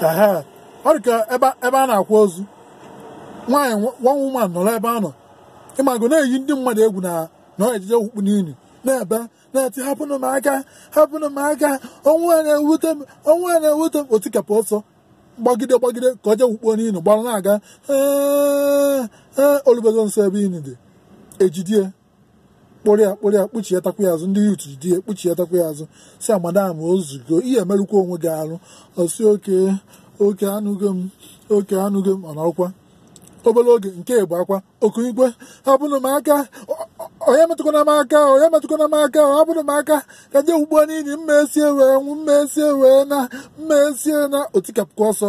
ehe ọ dị ka ebe ebe a na-akwa ozu nwaanyị one woman nọrọ ebe a nọ ị mago na-eyi ndị mmadụ egwu na na ọ je-eje wukpuo n'ini na-ebe na-eti hapụnụ m aka hapụnụ m aka ọnwụ a na-ewute m ọnwụ a na-ewute m o tikapụ ọsọ gbagide gbagide ka ọ jee wukpuo n'ini gbara na-aga ee ee o lubezuo nso ebe ini dị e jide ya kpụrụ ya kpụrụ ya kpụchịatakwa ya azụ ndị youth jide ya kpụchịatakwa ya azụ sị ya madam o zugo ị ya-emerụkwa onwe gị arụ ọ sị okay okay anụgo m okay anụgo m ọ nọrọkwa obere oge nke ịbụa kwa o kuniekwe hapụnụ m aka ọ- ọ- onye metụkwana m aka onye metụkwana m aka ọ hapụnụ m aka ka m je wukpuo n'ini m ga-eso ya wee nwụ m ga-eso ya wee naa m ga-eso ya naa o tikapụkwa ọsọ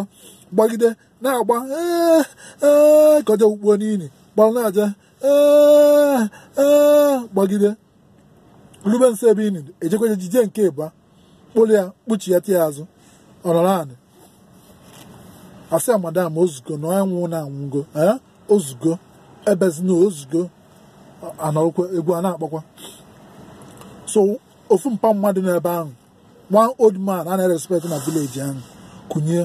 gbagide na-agba ee ee ka o je wukpuo n'ini gbalụ na-eje ee ee gbagide rube nso ebe ini dị e jekwa jide ya nke ịbụa kpụrụ ya kpụchịata ya azụ ọ nọrọ anị a sị ya madam o zugo na onye nwụrụnụ anwụgo ee o zugo ebezina o zugo a nọrọkwa egwu a na-akpọkwa so ofu mpa mmadụ n'ebe ahụ one old man a na-respect na village ahụ kunie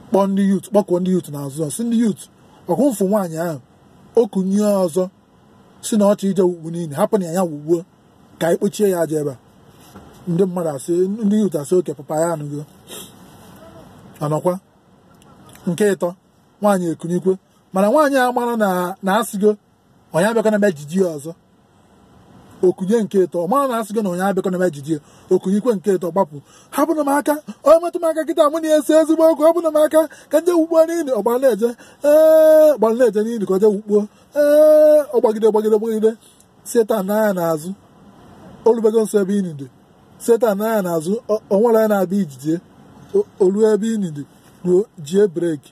kpọọ ndị youth kpọkọọ ndị youth n'azụ sị ndị youth ọkwa unu fụ nwaanyị ahụ o kunie ọzọ sị na ọ chọ ije wukpu n'ini hapụnụ ya wukpuo ka anyị kpochie ya aja ebe a ndị mmadụ asị ndị youth asị okay papa anyị anụgo a nọkwa nke ịtọ nwaanyị ekuniekwe mana nwaanyị amarọ na a sịgo onye abịakwana ijide ya ọzọ o kunie nke ịtọ ọ marọ na a sịgo na onye abịakwana ijide ya o kuniekwe nke ịtọ gbapụ hapụnụ m aka onye metụ m aka kịta mụ na ya esee ezigbo okwu hapụnụ m aka ka m je wukpuo n'ini ọ gbara na-eje ee ọ gbara na-eje n'ini ka o je wukpuo ee ọ gbagide gbagide gbagide sị turn nee anya n'azụ o lubego nso ebe ini dị sị turn nee anya n'azụ o- o nwerọ onye na-abịa ijide ya o- o ruo ebe ini dị ruo jie brake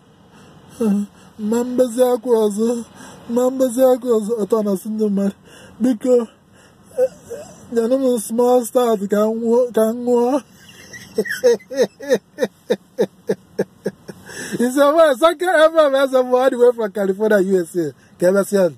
m ma-ebezi akwa ọzọ m ma-ebezi akwa ọzọ ọ turn asị ndị mmadụ biko nyenụ m small stout ka m nwụọ- ka m ṅụọ It's a man. Sake FM as all the way from California, USA. Kevin